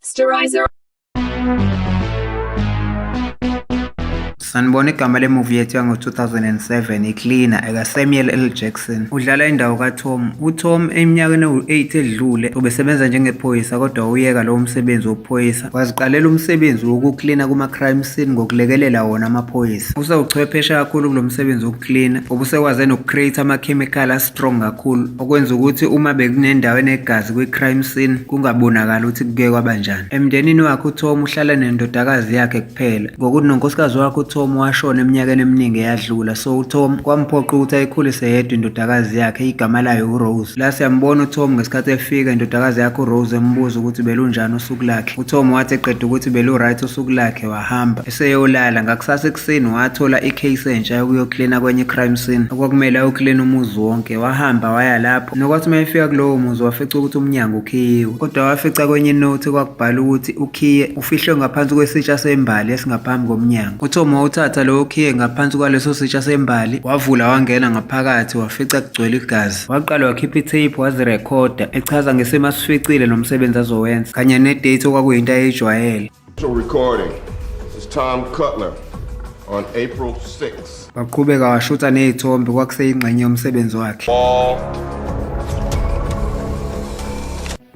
Sterilizer. sanibona igama lemuvi yethu yango-2007 icleaner ekasamuel l jackson udlala indawo katom utom eminyakeni ewu-8 edlule ubesebenza njengephoyisa kodwa uyeka lowo msebenzi wobuphoyisa Waziqalela umsebenzi wokuklina kuma-crime scene ngokulekelela wona amaphoyisa. Usewuchwepheshe kakhulu kulo msebenzi wokuklina, obusekwaze noku-create amakhemikhali a-strong kakhulu, okwenza ukuthi uma bekunendawo enegazi kwi-crime scene, kungabonakali ukuthi kuke kwabanjani. Emndenini wakhe uTom uhlala nendodakazi yakhe kuphela, ngokuthi nonkosikazi wakhe uTom washona eminyakeni eminingi eyadlula, so uTom kwamphoqa ukuthi ayikhulise yedwa indodakazi yakhe, igama layo uRose. La siyambona uTom ngesikhathi efika, indodakazi yakhe uRose embuza ukuthi belunjani usuku. usuku lakhe uTom wathi eqeda ukuthi belu-right usuku lakhe wahamba eseyolala ngakusasa ekuseni wathola i-case entsha yokuyoklina kwenye i-crime scene okwakumele ayoklina umuzi wonke wahamba waya lapho nokwathi uma efika kulowo muzi wafica ukuthi umnyango ukhiyiwe kodwa wafica kwenye inothi kwakubhala ukuthi ukhiye ufihlwe ngaphansi kwesitsha sembali esingaphambi komnyango uTom wawuthatha lowo khiye ngaphansi kwaleso sitsha sembali wavula wangena ngaphakathi wafica kugcwele igazi Waqala wakhipha itape wazirekhoda echaza ngesimo asificile nomsebenzi azowenza kanye nedate okwakuyinto ayeyijwayele. Recording. It's Tom Cutler on April 6. Waqhubeka washutha nezithombe kwakuseyingxenye yomsebenzi wakhe. All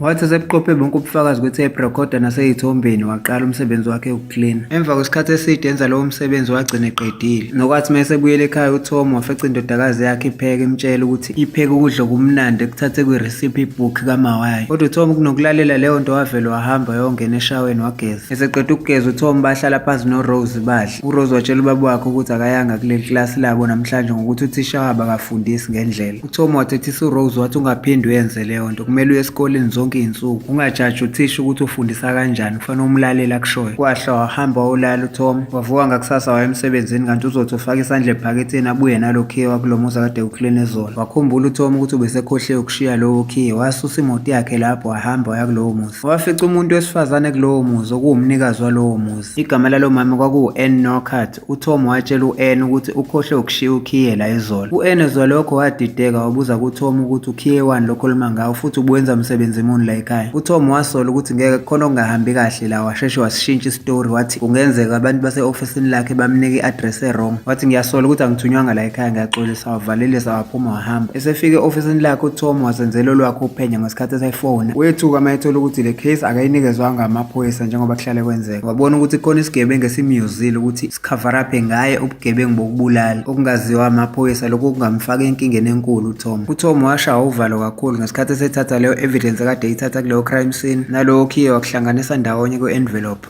Wathi esebuqophe bonke ubufakazi ukuthi ebrekhoda naseyithombeni waqala umsebenzi wakhe wokuklina. Emva kwesikhathi eside enza lowo msebenzi wagcina eqedile. Nokwathi uma esebuyela ekhaya uTom wafica indodakazi yakhe ipheke imtshela ukuthi ipheke ukudla okumnandi ekuthathe kwi-recipe book kamawayo. Kodwa uTom kunokulalela leyo nto wavele wahamba yongena eshaweni wageza. Eseqeda ukugeza uTom bahlala phansi noRose badle. URose watshela ubaba wakhe ukuthi akayanga kuleli klasi labo namhlanje ngokuthi uthisha wabo akafundisi ngendlela. Tom wathethisa uRose wathi ungaphinde uyenze leyo nto kumele uye esikoleni zonke iy'nsuku ungajaji uthisha ukuthi ufundisa kanjani kufanele umlaleli akushoyo kwahla wahamba wawulala uTom wavuka ngakusasa waya emsebenzini kanti uzothi ufake isandla ebhaketheni abuye nalo khiye wakulo muzi akade ukleni ezolo wakhumbula uTom ukuthi ubesekhohle ukushiya lowo khiye wasusa imoto yakhe lapho wahamba waya kulowo muzi wafica umuntu wesifazane kulowo muzi okuwumnikazi walowo muzi igama lalo mama kwakuwu-ann norcart UTom watshela u-Anne ukuthi ukhohlwe ukushiya ukhiye la izolo. U-Anne ezwa lokho wadideka wabuza kuTom ukuthi ukhiye wani lokho oluma ngawo futhi ubuwenza msebenzi muni la ekhaya. UTom wasola ukuthi ngeke kukhona okungahambi kahle la washeshe wasishintsha isitori wathi kungenzeka abantu base-ofisini lakhe bamnika i-address e-wrong. Wathi ngiyasola ukuthi angithunywanga la ekhaya ngiyaxolisa wavalelisa waphuma wahamba. Esefike e-ofisini lakhe uTom wasenzela olwakhe uphenya ngesikhathi esefona. Wethuka mayethola ukuthi le case akayinikezwanga amaphoyisa njengoba kuhlale kwenzeka. wabona ukuthi khona isigebengu esimyuzile ukuthi sikhavaraphe ngaye ubugebengu bokubulala okungaziwa amaphoyisa lokhu kungamfaka enkingeni enkulu uTom. UTom washawa uvalo kakhulu ngesikhathi esethatha leyo evidence kade eyithatha kuleyo crime scene nalowo khiye wakuhlanganisa ndawonye kwe-envelope.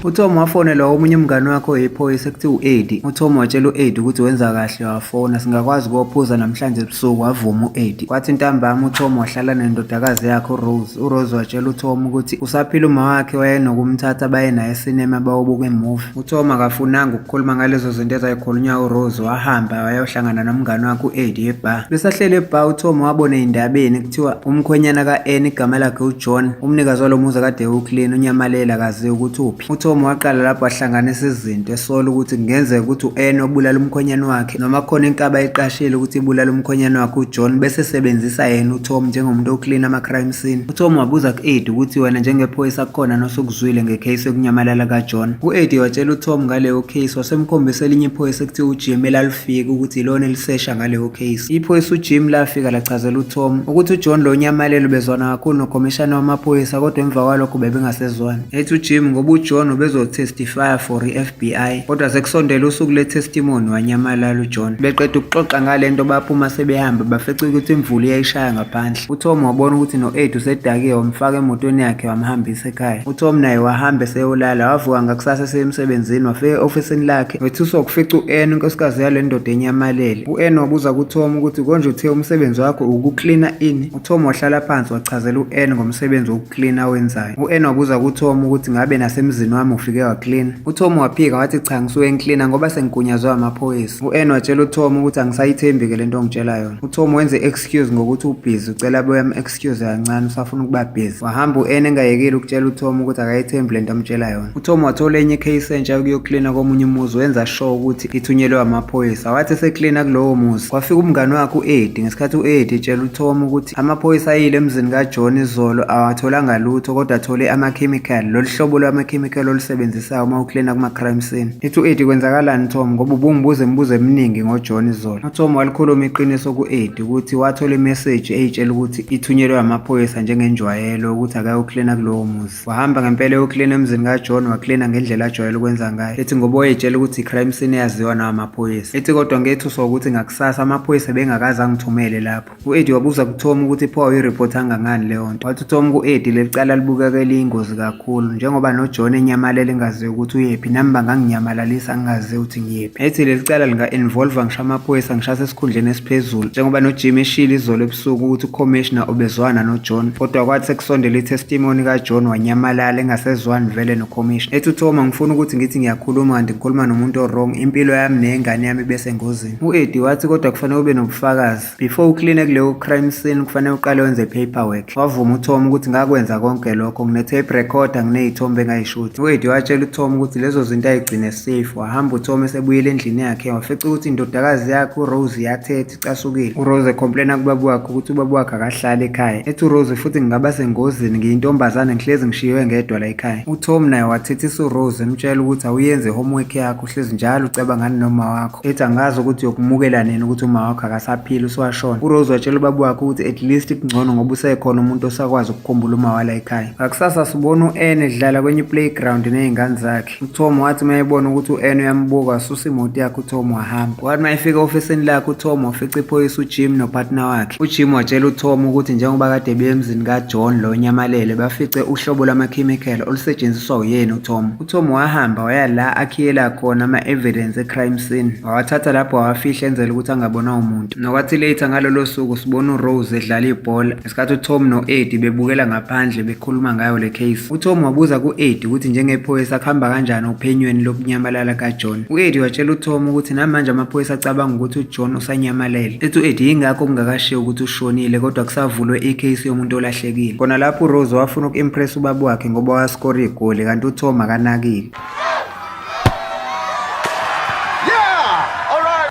UTom wafonelwa omunye umngane wakhe oyiphoyisa ekuthiwa u-Eddie. UTom watshela u-Eddie ukuthi wenza kahle wafona singakwazi ukophuza namhlanje ebusuku wavuma u-Eddie. Kwathi ntambama uTom wahlala nendodakazi yakhe uRose. URose watshela uTom ukuthi usaphila uma wakhe wayenokumthatha baye naye esinema bawobuka imuvi. UTom akafunanga ukukhuluma ngalezo zinto ezayikhulunywa uRose wahamba wayohlangana nomngane wakhe u-Eddie ebar. Besahlele ebar uTom wabona ey'ndabeni Kuthiwa umkhwenyana ka-Anne igama lakhe uJohn, umnikazi walo muzi kade ewuclean, unyamalele akaziwa ukuthi uphi. UTom waqala lapho wahlanganisa izinto esola ukuthi kungenzeka ukuthi u-Anne obulala umkhwenyana wakhe noma khona inkaba ayiqashile ukuthi ibulala umkhwenyana wakhe uJohn bese sebenzisa yena uTom njengomuntu oclean ama-crime scene. UTom wabuza ku-Eddie ukuthi wena njengephoyisa kukhona nosukuzwile ngecase yokunyamalala kaJohn. U-Eddie watshela uTom ngaleyo case wasemkhombisa elinye iphoyisa ekuthiwa uJim elalu fika ukuthi ilona elisesha ngaleyo case. Iphoyisa uJim lafika lachazela uTom ukuthi uJohn lo nyamalelo ubezwana kakhulu nokhomishana wamaphoyisa kodwa emva kwalokho bebengasezwani. Ethi uJim ngoba uJohn ubezotestifya for i-FBI kodwa sekusondele usuku le-testimony wanyamalala uJohn. Beqeda ukuxoxa ngale nto baphuma sebehamba bafece ukuthi imvula iyayishaya ngaphandle. UTom wabona ukuthi no-Ed usedakiwe wamfaka emotweni yakhe wamhambisa Guy, uTom naye wahambe seyolala wavuka ngakusasa seyemsebenzini wafika e-ofisini lakhe wethuswa ukufica u-Ann inkosikazi yale ndoda enyamalele. U-Ann wabuza kuTom ukuthi konje uthe umsebenzi wakho ukuklina ini? UTom wahlala phansi wachazela u-Ann ngomsebenzi wokuklina awenzayo. U-Ann wabuza kuTom ukuthi ngabe nasemzini wami ufike waklina. UTom waphika wathi cha ngisuke ngiklina ngoba sengigunyazwe amaphoyisa. U-Ann watshela uTom ukuthi angisayithembi-ke le nto ongitshela yona. UTom wenze i-excuse ngokuthi ubhizi ucela abuye am excuse kancane usafuna ukuba busy wahamba u-n engayekile ukutshela utom ukuthi akayethembi le nto amtshela yona utom wathola enye ikheyisi entsha yokuyoklina komunye umuzi wenza sure ukuthi ithunyelwe amaphoyisa wathi eseklina kulowo muzi kwafika umngane wakhe u-edi ngesikhathi u-edi etshela utom ukuthi amaphoyisa ayile emzini kajohn izolo awatholanga lutho kodwa athole amakhemikhali lolu hlobo lwamakhemikhali olusebenzisayo uma uklina kuma-crime scene ithi u-edi kwenzakalani utom ngoba ubungibuza imibuzo eminingi ngojohn izolo utom walikhuluma iqiniso ku-edi ukuthi wathola imeseji eyitshela ukuthi ithunyelwe amaphoyisa njengenjwayelo ukuthi akayoklina kulowo muzi wahamba ngempela eyoklina emzini kajohn waklina ngendlela ajwayele ukwenza ngayo ethi ngoba wayetshela ukuthi i-crime scene eyaziwa nawo amaphoyisa ethi kodwa ngethuswa ukuthi ngakusasa amaphoyisa bengakaze angithumele lapho u-edi wabuza kuthoma ukuthi pho awuyiripoti angangani leyo nto wathi uthoma ku-edi leli cala libukeka eliyingozi kakhulu njengoba nojohn enyamalele engaziyo ukuthi uyephi nami banganginyamalalisa ngingazi ukuthi ngiyephi Ethi leli cala linga-involva ngisho amaphoyisa ngishase esikhundleni esiphezulu njengoba nojim eshile izolo ebusuku ukuthi ukhomishina ubezwana nojohn kodwa kwathi sekusondela itestimoni kajohn wanyamalala engasezwani vele nokhomishina ethi uthoma ngifuna ukuthi ngithi ngiyakhuluma kanti ngikhuluma nomuntu orong impilo yami neyengane yami ibesengozini u-edi wathi kodwa kufanele ube nobufakazi Before ukline kuleyo crime scene kufanele uqale wenze paperwork. Wavuma uTom ukuthi ngakwenza konke lokho ngine tape recorder nginezithombe engayishuthi. UEddy watshela uTom ukuthi lezo zinto ayigcine safe. Wahamba uTom esebuyela endlini yakhe wafica ukuthi indodakazi yakhe uRose yathethe icasukile. URose ecomplaina kubaba wakhe ukuthi ubaba wakhe akahlali ekhaya. Ethi uRose futhi ngingaba sengozini ngiyintombazane ngihlezi ngishiywe ngedwa la ekhaya. UTom naye wathethisa uRose emtshela ukuthi awuyenze homework yakho. uhlezi njalo ucabanga noma wakho ethi angazi ukuthi uyokumukela nini ukuthi uma wakho akasaphili uswashona urose watshela ubaba wakhe ukuthi at least kungcono ngoba usekhona umuntu osakwazi ukukhumbula uma wala ekhaya ngakusasa sibona u-n edlala kwenye iplayground nezingane zakhe utom wathi uma ebona ukuthi u-n uyambuka wasusa imoto yakhe utom wahamba wathi uma efika ofisini lakhe utom wafica iphoyisa ujim nopartner wakhe ujim watshela utom ukuthi njengoba kade beyemzini kajohn lo nyamalele bafice uhlobo lwamakhemikhela olusetshenziswa uyena utom UTom wahamba waya la akhiyela khona ama-evidence e-crime scene wawathatha lapho wawafihla enzela ukuthi angabonwa umuntu nokwathi later ngalolo suku sibona urose edlala ibhola ngesikhathi utom no-edi bebukela ngaphandle bekhuluma ngayo le case utom wabuza ku-edi ukuthi njengephoyisa kuhamba kanjani ophenyweni lokunyamalala kajohn u-edi watshela utom ukuthi namanje amaphoyisa acabanga ukuthi ujohn usanyamalele ethi u-edi yingakho kungakashiwo ukuthi ushonile kodwa kusavulwe icase yomuntu olahle elahlekile. Kona lapho uRose wafuna uku-impress ubaba wakhe ngoba waskora igoli kanti uTom akanakile.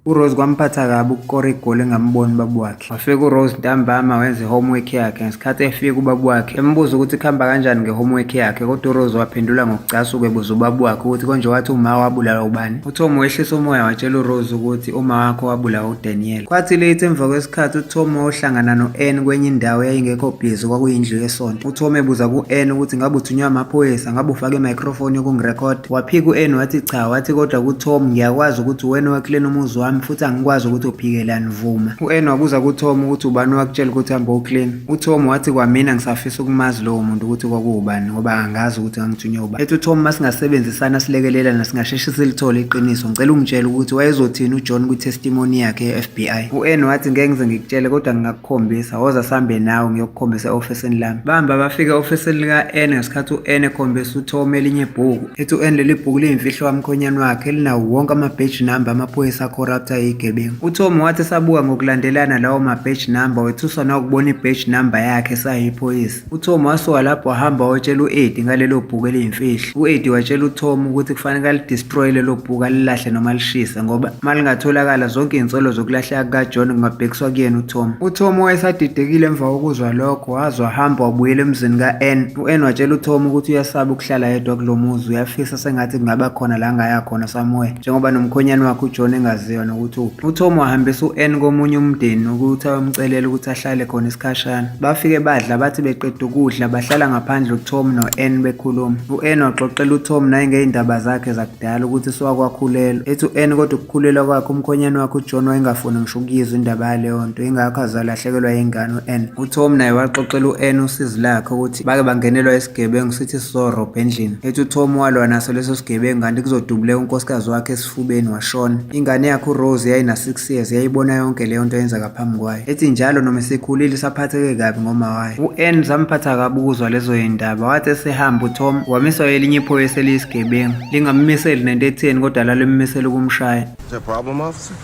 URose kwamphatha kabi ukukora igoli engamboni ubaba wakhe. Wafika uRose ntambama wenza i-homework yakhe ngesikhathi efika ubaba wakhe embuza ukuthi kuhamba kanjani nge-homework yakhe kodwa uRose waphendula ngokucasuka ebuza ubaba wakhe ukuthi konje wathi uma wabulawa ubani. UTom wehlisa umoya watshela uRose ukuthi uma wakho wabulawa uDaniel. Kwathi late emva kwesikhathi uTom wayohlangana no-Ann kwenye indawo eyayingekho busy kwakuyindlu yesonto. UTom ebuza ku-Ann ukuthi ngabe uthunywe amaphoyisa ngabe ufake i-microphone yokungirekhod. Waphika u-Ann wathi cha wathi kodwa kuTom ngiyakwazi ukuthi uwena owakhilena umuzi wami futhi angikwazi ukuthi uphikelani vuma. U-Ann wabuza kuTom ukuthi ubani owakutshela ukuthi hambe uclean. UTom wathi kwamina ngisafisa ukumazi lowo muntu ukuthi kwakuwubani ngoba angazi ukuthi ngangithunywe Ethi uTom uma singasebenzisana silekelelana singasheshe silithole iqiniso. Ngicela ungitshele ukuthi wayezothini uJohn kwi-testimony yakhe ye-FBI. U-Anne wathi ngeke ngize ngikutshele kodwa ngingakukhombisa. Woza sihambe nawe ngiyokukhombisa e-ofisini lami. Bahamba bafika e-ofisini lika-Anne ngesikhathi u-Anne ekhombisa uTom elinye ibhuku. Ethi u-Anne leli bhuku liyimfihlo kamkhonyane wakhe elinawo wonke ama-badge number amaphoyisa acorrupt ayigebengu. UTom wathi esabuka ngokulandelana lawo ma-badge number wethuswa nawukubona i-badge number yakhe esayiphoyisa. UTom wasuka lapho wahamba wayotshela u-Eddie ngalelo bhuku eliyimfihlo. U-Eddie watshela uTom ukuthi kufanele alidestroye lelo bhuku alilahle noma alishise ngoba uma lingatholakala zonke izinsolo zokulahleka kukaJohn kungabhekiswa kuyena uTom. UTom wayesadidekile emva kokuzwa lokho waze wahamba wabuyela emzini ka-Ann. U-Ann watshela uTom ukuthi uyasaba ukuhlala yedwa kulo muzi uyafisa sengathi kungaba khona la angaya khona somewhere njengoba nomkhonyane wakhe uJohn engaziwa nokuthi uphi. UTom wahambisa u-Ann komunye umndeni ukuthi ayomcelela ukuthi ahlale khona isikhashana. Bafike badla bathi beqeda ukudla bahlala ngaphandle uTom no-Ann bekhuluma. U-Ann waxoxela uTom naye ngey'ndaba zakhe zakudala ukuthi siwakwakhulelwa. Ethi u-Ann kodwa ukukhulelwa kwakhe umkhonyane wakhe uJohn wayengafuni ngisho ukuyizwa indaba yaleyo nto ingakho azalahlekelwa yingane u-Ann. UTom naye waxoxela u-Ann usizi lakhe ukuthi bake bangenelwa isigebengu sithi sizorobha endlini. Ethi uTom walwa naso leso sigebengu kanti kuzodubuleka unkosikazi wakhe esifubeni washona. Ingane yakhe uRose yayina 6 years yayibona yonke leyo nto yenzeka phambi kwayo. Ethi njalo noma esekhulile isaphatheke kabi ngoma wayo. U-Ann zamphatha kabi ukuzwa lezo yindaba wathi esehamba uTom wamiswa elinye iphoyisa eliyisigebengu. Lingammiseli nento etheni kodwa lalimmisela ukumshaya. Is there a problem, officer?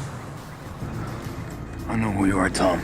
I know who you are, Tom.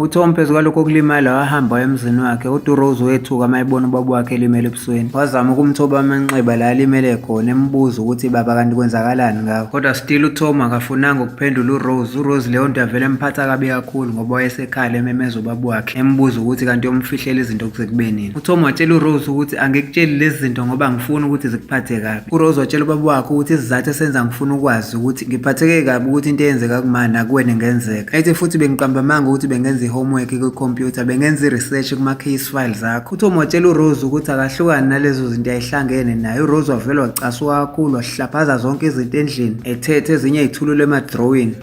uTom phezu kwalokho okulimala wahamba waya emzini wakhe uDurose wethuka uma ebona ubaba wakhe elimele ebusweni wazama ukumthoba amanxeba la alimele khona embuza ukuthi baba kanti kwenzakalani ngawo kodwa still uTom akafunanga ukuphendula uRose uRose leyo nto yavele emphatha kabi kakhulu ngoba wayesekhala ememeza ubaba wakhe embuza ukuthi kanti yomfihlela izinto kuze kube nini uTom watshela uRose ukuthi angikutsheli lezi zinto ngoba ngifuni ukuthi zikuphathe kabi URose watshela ubaba wakhe ukuthi isizathu esenza ngifuna ukwazi ukuthi ngiphatheke kabi ukuthi into eyenzeka kumani nakuwena ingenzeka. Ethi futhi bengiqamba amanga ukuthi bengenza i-homework kwikhompyutha, bengenza i-research kuma-case files akho. UTom watshela uRose ukuthi akahlukani nalezo zinto ayihlangene naye. URose wavele wacasuka kakhulu, wahlaphaza zonke izinto endlini, ethethe ezinye izithulule emadrawini.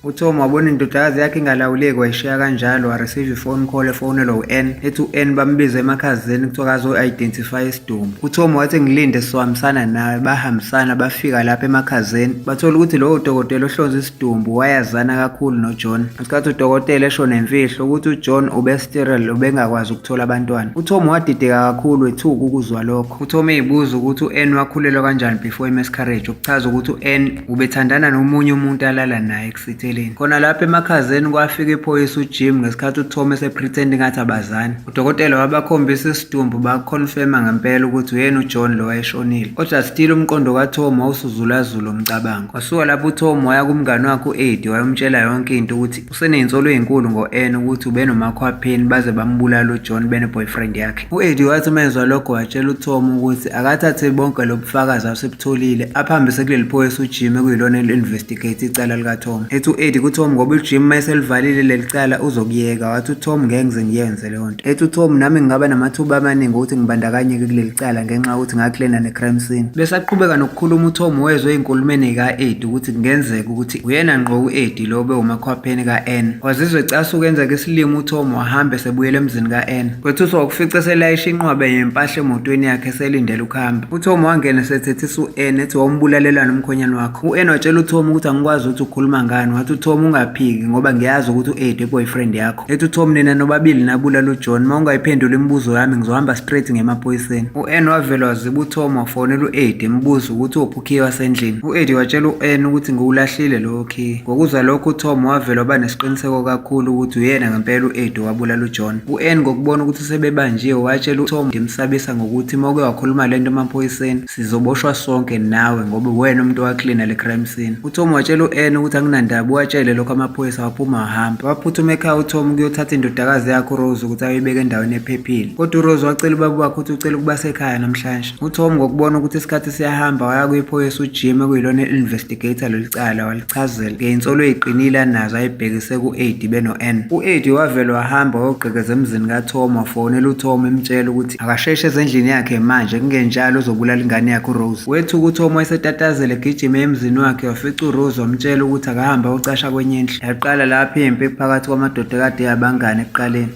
UTom wabona indodakazi yakhe ingalawuleki wayishiya kanjalo wareceive ifone call efonelwa u-N ethi u-N bambiza emakhazeni kuthiwa kazo-identify isidumo uTom wathi ngilinde sizohambisana nawe bahambisana bafika lapha emakhazeni bathola ukuthi lowo dokotela ohlonza isidumbu wayazana kakhulu noJohn ngesikhathi udokotela esho nemfihlo ukuthi uJohn ubesterile ubengakwazi ukuthola abantwana uTom wadideka kakhulu ethuka ukuzwa lokho uTom eyibuza ukuthi u-N wakhulelwa kanjani before i-miscarriage okuchaza ukuthi u-N ubethandana nomunye umuntu alala naye ekusitheleni khona lapho emakhazeni kwafika iphoyisa ujim ngesikhathi uthome esepretend ngathi abazani udokotela wabakhombisa isidumbu bakuconfirma ngempela ukuthi uyena ujohn lo wayeshonile kodwa still umqondo kathom wawusuzulazula umcabango wasuka lapho uthom waya kumngane wakhe u-edi wayomtshela yonke into ukuthi Useneyinsolo ezinkulu ngo-Anne ukuthi ubenomakhwapheni baze bambulala uJohn beneboyfriend yakhe. U-Eddie wathi uma ezwa lokho watshela uTom ukuthi akathathe bonke lobufakazi asebutholile aphambise kuleli phoyisa uJim ekuyilona eli-investigate icala likaTom. Ethi u-Eddie kuTom ngoba uJim uma eselivalile leli cala uzokuyeka wathi uTom ngeke ngize ngiyenze. leyo nto ethi uTom nami ngingaba namathuba amaningi ukuthi ngibandakanyeke kuleli cala ngenxa yokuthi ngaklena ne-crime scene besaqhubeka nokukhuluma uTom wezwe enkulumeni ka-Ed ukuthi kungenzeka ukuthi uyena ngqo u-Ed lo bewumakhwapheni ka-N wazizwe casa ukwenzeka isilima uTom wahamba esebuyela emzini ka-N kwethuswa ukufica selayisha inqwaba yempahla emotweni yakhe selindele ukuhamba uTom wangena esethethisa u-N ethi wawumbulalelana umkhonyana wakho u-N watshela uTom ukuthi angikwazi ukuthi ukhuluma ngani wathi uTom ungaphiki ngoba ngiyazi ukuthi u-Ed i-boyfriend yakho Ethi uTom nina nobabili nabula luJohn uma ungayiphendula imibuzo yami ngizohamba straight ngemaphoyiseni. U-Ann wavele waziba uTom wafonela u-Eddie embuza ukuthi uphi ukhiye wasendlini. U-Eddie watshela u-Ann ukuthi ngiwulahlile lowo khiye. Ngokuzwa lokho uTom wavele waba nesiqiniseko kakhulu ukuthi uyena ngempela u-Eddie owabula luJohn. U-Ann ngokubona ukuthi sebebanjiwe watshela uTom ngimsabisa ngokuthi uma uke wakhuluma lento emaphoyiseni Sizoboshwa sonke nawe ngoba uwena umuntu owaklina le crime scene. UTom watshela u-Anne ukuthi anginandaba uwatshele lokho amaphoyisa waphuma wahamba. Waphuthuma ekhaya uTom ukuyothatha indodakazi yakhe uRose ukuthi ayoyibeka endaweni ephephile. Kodwa uRose wacela ubaba wakhe ukuthi ucela ukuba sekhaya namhlanje. UTom ngokubona ukuthi isikhathi siyahamba waya kwiphoyisa uJim ekuyilona i-investigator leli cala walichazela ngey'nsolo ey'qinile anazo ayibhekise ku-Edi beno-Anne. U-Edi wavele wahamba wayogqekeza emzini kaTom wafonela uTom emtshela ukuthi Akasheshe ezendlini yakhe manje kungenjalo uzobulala ingane yakhe uRose. Wethu ukuthi omo esetatazela egijime emzini wakhe wafica uRose wamtshela ukuthi akahambe ayocasha kwenye indlu. Yaqala lapho impi phakathi kwamadoda kade yabangane ekuqaleni.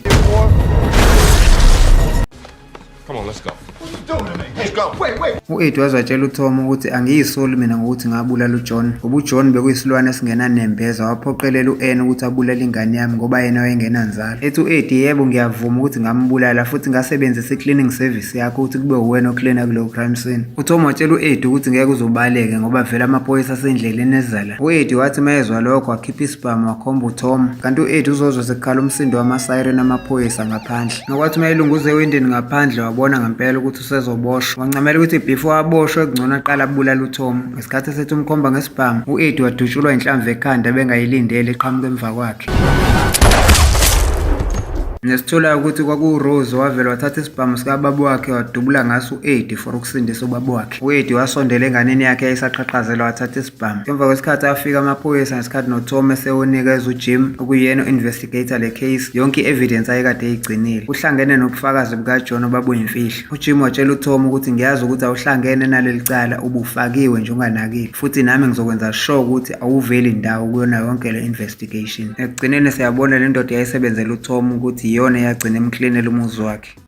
Come on, let's go. U-Ed waze watshela uTom ukuthi angiyisoli mina ngokuthi ngabulala uJohn ngoba uJohn bekuyisilwane esingenanembeza waphoqelela u-Anne ukuthi abulale ingane yami ngoba yena wayengenanzalo ethi u-edi yebo ngiyavuma ukuthi ngambulala futhi ngasebenzisa i-cleaning service yakho ukuthi kube uwena ocleana kulowo crime scene uthom watshela u-edi ukuthi ngeke uzobaleke ngoba vele amaphoyisa asendleleni ezala u-edi wathi uma ezwa lokho wakhipha isibhamu wakhomba uthom kanti u-edi uzozwa sekukhala umsindo wamasiren amaphoyisa ngaphandle nokwathi uma elunguze ewindini ngaphandle wabona ngempela ukuthi usezoboshwa wancamela ukuthi before aboshwe kungcono aqala abulala uTom ngesikhathi esethi umkhomba ngesibhamu u-Edi wadutshulwa inhlamvu ekhanda bengayilindele eqhamuka emva kwakhe nesitholayo ukuthi kwakuwurose wavele wathatha isibhamu sikababa wakhe wadubula ngaso u-edi for ukusindisa ubaba wakhe u-edi wasondela enganeni yakhe eyayisaqhaqhazela wathatha Bam. Emva kwesikhathi afika amaphoyisa ngesikhathi noThome sewunikeza uJim okuyena u-investigator le case yonke i-evidence ayekade eyigcinile. Kuhlangene nobufakazi bukaJohn obabuyimfihlo. UJim watshela uThome ukuthi ngiyazi ukuthi awuhlangene naleli cala ubufakiwe nje unganakile futhi nami ngizokwenza sure ukuthi awuveli ndawo kuyona yonke le investigation. Ekugcineni siyabona le ndoda yayisebenzela uThome ukuthi iyona eyagcina emklinela umuzi wakhe.